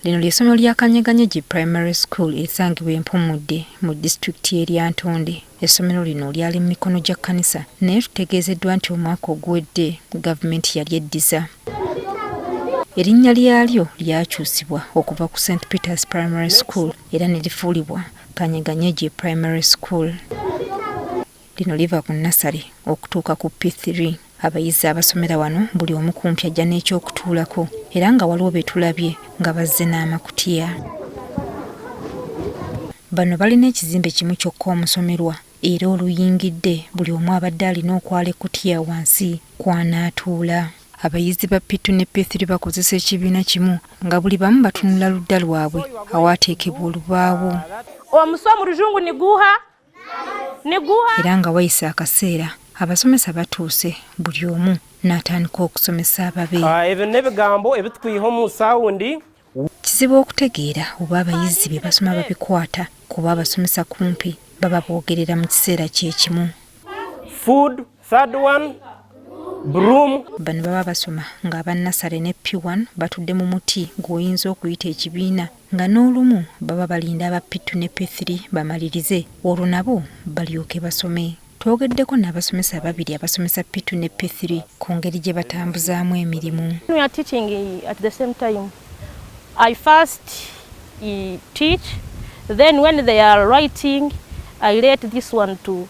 Lino ly'essomero lya Kanyeganyegi Primary School erisangibwa e Mpumudde mu disitulikiti y'e Lyantonde. Essomero lino lyali mu mikono gya kkanisa naye tutegeezeddwa nti omwaka oguwedde gavumenti yalyeddiza. Erinnya lyalyo lyakyusibwa okuva ku St Peters Primary School era ne lifuulibwa Kanyeganyegi Primary School. Lino liva ku nasale okutuuka ku P3. Abayizi abasomera wano buli omu kumpi ajja n'ekyokutuulako era nga waliwo be tulabye nga bazze n'amakutiya. Bano balina ekizimbe kimu kyokka omusomerwa era oluyingidde buli omu abadde alina okwala ekkutiya wansi kw'anaatuula. Abayizi ba P2 ne P3 bakozesa ekibiina kimu nga buli bamu batunula ludda lwabwe awaateekebwa olubaawo. Omusu omu luzungu ni guha. era nga wayise akaseera abasomesa batuuse buli omu n'atandika okusomesa ababe ah, ebyo n'ebigambo ebitukwiha omu sawundi kizibu okutegeera oba abayizi bye basoma babikwata kuba abasomesa kumpi baba boogerera mu kiseera kye kimu Third one, broom. Bano baba basoma ng'aba nasale ne P1 batudde mu muti gw'oyinza okuyita ekibiina nga n'olumu baba balinda aba P2 ne P3 bamalirize olwo nabo balyoke basome. Twogeddeko n'abasomesa ababiri abasomesa P2 ne P3 ku ngeri gye batambuzaamu emirimu. I first teach, then when they are writing, I let this one to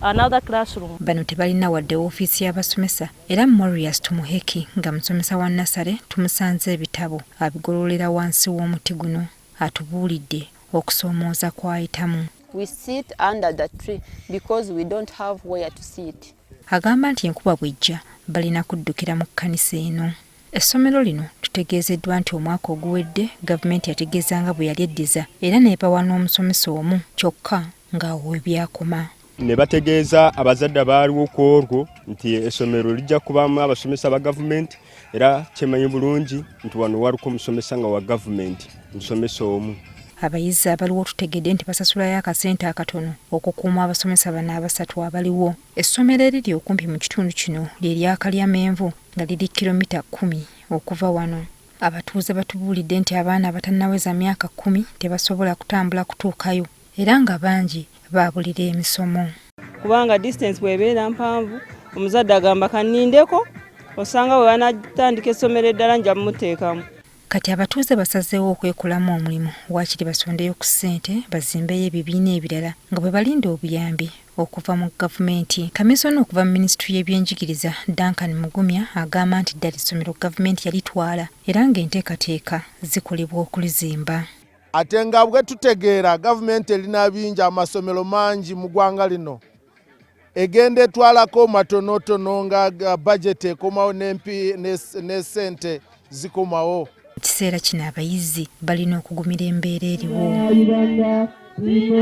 another classroom. Bano tebalina wadde woofiisi y'abasomesa era Morias Tumuheki nga musomesa wa nnasale tumusanze ebitabo abigololera wansi w'omuti guno atubuulidde okusoomooza kw'ayitamu. We sit under the tree because we don't have where to sit. Agamba nti enkuba bw'ejja balina kuddukira mu kkanisa eno. Essomero lino tutegeezeddwa nti omwaka oguwedde gavumenti yategeeza nga bwe yali eddiza era n'ebawa n'omusomesa omu kyokka nga webyakoma. ne bategeeza abazadde abaaliwo ku olwo nti essomero lijja kubaamu abasomesa ba gavumenti era kyemanyi bulungi nti wano waliko omusomesa nga wa gavumenti musomesa omu abayizi abaliwo tutegedde nti basasulayo akasente akatono okukuuma abasomesa bano abasatu abaliwo essomero eriri okumpi mu kitundu kino lye lyakalya menvu nga liri kilomita kumi okuva wano abatuuze batubuulidde nti abaana abatannaweza myaka kkumi tebasobola kutambula kutuukayo era nga bangi baabulira emisomo. Kubanga distance bw'ebeera mpanvu omuzadde agamba kannindeko osanga bwe banatandika essomero eddala nja muteekamu. Kati abatuuze basazeewo okwekolamu omulimu waakiri basondeyo ku ssente bazimbeyo ebibiina ebirala nga bwe balinda obuyambi okuva mu gavumenti. Kamisona okuva mu minisitule y'ebyenjigiriza Duncan Mugumya agamba nti ddala essomero gavumenti yalitwala era ng'enteekateeka zikolebwa okulizimba. Ate nga bwe tutegeera gavumenti erina bingi amasomero mangi mu ggwanga lino egenda etwalako matonotono nga bajeti ekomawo ne sente zikomawo. Mu kiseera kino abayizi balina okugumira embeera eriwo.